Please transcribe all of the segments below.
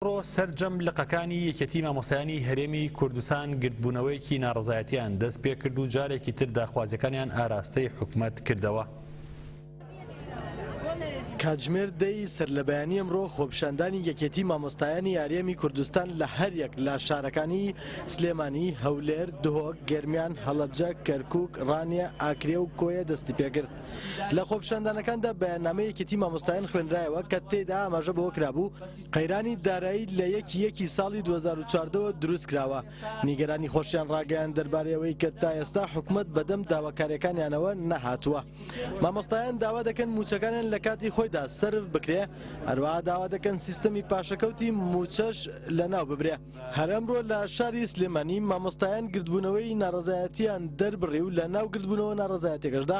ئەمڕۆ سەرجەم لقەکانی یەکێتی مامۆستایانی هەرێمی کوردستان گردبوونەوەیەکی ناڕەزایەتیان دەست پێکرد و جارێکی تر داخوازیەکانیان ئاراستەی حکومەت کردەوە. کاتژمێر دە ی سەرلەبەیانی ئەمڕۆ خۆپیشاندانی یەکێتی مامۆستایانی یاریەمی کوردستان لە هەریەک لە شارەکانی سلێمانی، هەولێر، دهۆک، گەرمیان، هەڵەبجە، کەرکوک، ڕانیە، ئاکرێ و کۆیە دەستی پێکرد. لە خۆپیشاندانەکاندا بەیاننامەی یەکێتی مامۆستایان خوێنرایەوە کە تێیدا ئاماژە بەوە کرابوو، قەیرانی دارایی لە یەکی یەکی ساڵی 2014 وە دروست کراوە نیگەرانی خۆشیان ڕاگەیان دەربارەی ئەوەی کە تا ئێستا حکومت بەدەم داواکاریەکانیانەوە نەهاتووە مامۆستایان داوا دەکەن موچەکانیان لە کاتی خۆیدا سرف بکرێ هەروە داوا دەکەن سیستەمی پاشەکەوتی موچەش لە ناو ببرێ هەرمرۆ لە شاری سلێمانی مامۆستایان گردبوونەوەی ناڕزایەتیان دەربڕی و لە ناو گردبوونەوە ناڕزایەتەکەشدا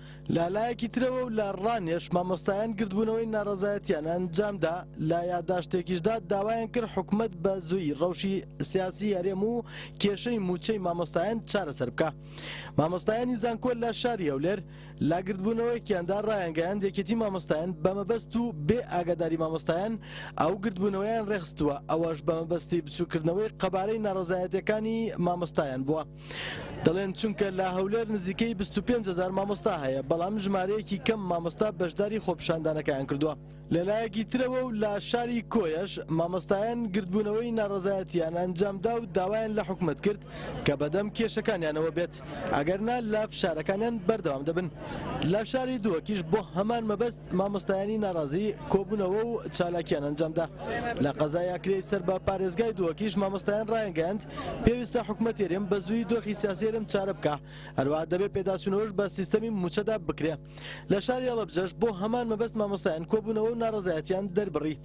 لە لایەکی ترەوە و لە ڕانێش مامۆستایان گردبوونەوەی ناڕەزایەتیان ئەنجام دا، لە یاداشتێکیشدا داوایان کرد حکومەت بە زوویی ڕەوشی سیاسی هەرێم و کێشەی مووچەی مامۆستایان چارەسەر بکا. مامۆستایانی زانکۆ لە شاری هەولێر لە گردبوونەوەیەکیاندا ڕایانگەیاند یەکێتی مامۆستایان بە مەبەست و بێ ئاگاداری مامۆستایان ئەو گردبوونەوەیان ڕێخستووە ئەوەش بە مەبەستی بچووکردنەوەی قەبارەی ناڕەزایەتیەکانی مامۆستایان بووە. دەڵێن چونکە لە هەولێر نزیکەی بیست و پێنج هەزار مامۆستا هەیە بەڵام ژمارەیەکی کەم مامۆستا بەشداری خۆپیشاندانەکەیان کردووە لەلایەکی ترەوە و لە شاری کۆیەش مامۆستایان گردبوونەوەی ناڕەزایەتیان ئەنجامدا و داوایان لە حکومەت کرد کە بەدەم کێشەکانیانەوە بێت ئەگەر نا لە فشارەکانیان بەردەوام دەبن لە شاری دووەکیش بۆ هەمان مەبەست مامۆستایانی ناڕازی کۆبوونەوە و چالاکیان ئەنجامدا لە قەزای ئەکرێی سەر بە پارێزگای دووەکیش مامۆستایان ڕایانگەیاند پێویستە حکومەتی هەرێم بە زوویی دۆخی سیاسی هەرێم چارە بکا، هەروەها دەبێ پێداچوونەوەش بە سیستەمی مووچەدا بکرێ. لە شاری هەڵەبجەش بۆ هەمان مەبەست مامۆستایان کۆبوونەوە و ناڕەزایەتییان دەربڕی.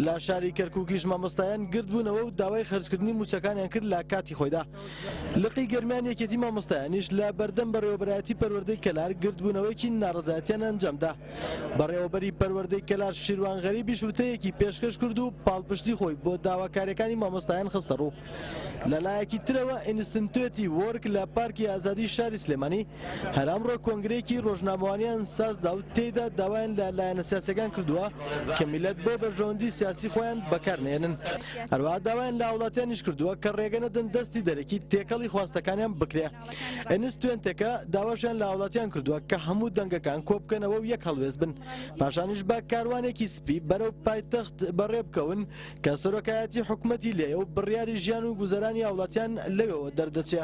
لە شاری کەرکووکیش مامۆستایان گردبوونەوە و داوای خەرجکردنی مووچەکانیان کرد لە کاتی خۆیدا. لقی گەرمیان یەکێتی مامۆستایانیش لە بەردەم بەڕێوەبەرایەتی پەروەردەی کەلار گردبوونەوەیەکی ناڕەزایەتییان ئەنجامدا. بەڕێوەبەری پەروەردەی کەلار شیروان غەریبیش وتەیەکی پێشکەش کرد و پاڵپشتی خۆی بۆ داواکاریەکانی مامۆستایان خستەڕوو. لەلایەکی ترەوە ئینستنتوێتی وۆرک لە پارکی ئازادی شاری سلێمانی هەر ئەمڕۆ کۆنگرەیەکی رۆژنامەوانیان سازدا و تێیدا داوایان لە لایەنە سیاسیەکان کردووە کە میللەت بۆ بەرژەوەندی سیاسی خۆیان بەکارنەهێنن هەروەها داوایان لە هاوڵاتیانیش کردووە کە رێگەنەدەن دەستی دەرەکی تێکەڵی خواستەکانیان بکرێ. ئەنستوێنتەکە داواشیان لە هاوڵاتیان کردووە کە هەموو دەنگەکان کۆبکەنەوە و یەک هەڵوێز بن پاشانیش بە کاروانێکی سپی بەرەو پایتەخت بەڕێ بکەون کە سەرۆکایەتی حکوومەتی لێ و بڕیاری ژیان و گوزەرانی هاوڵاتیان لەوێوە دەردەچێ.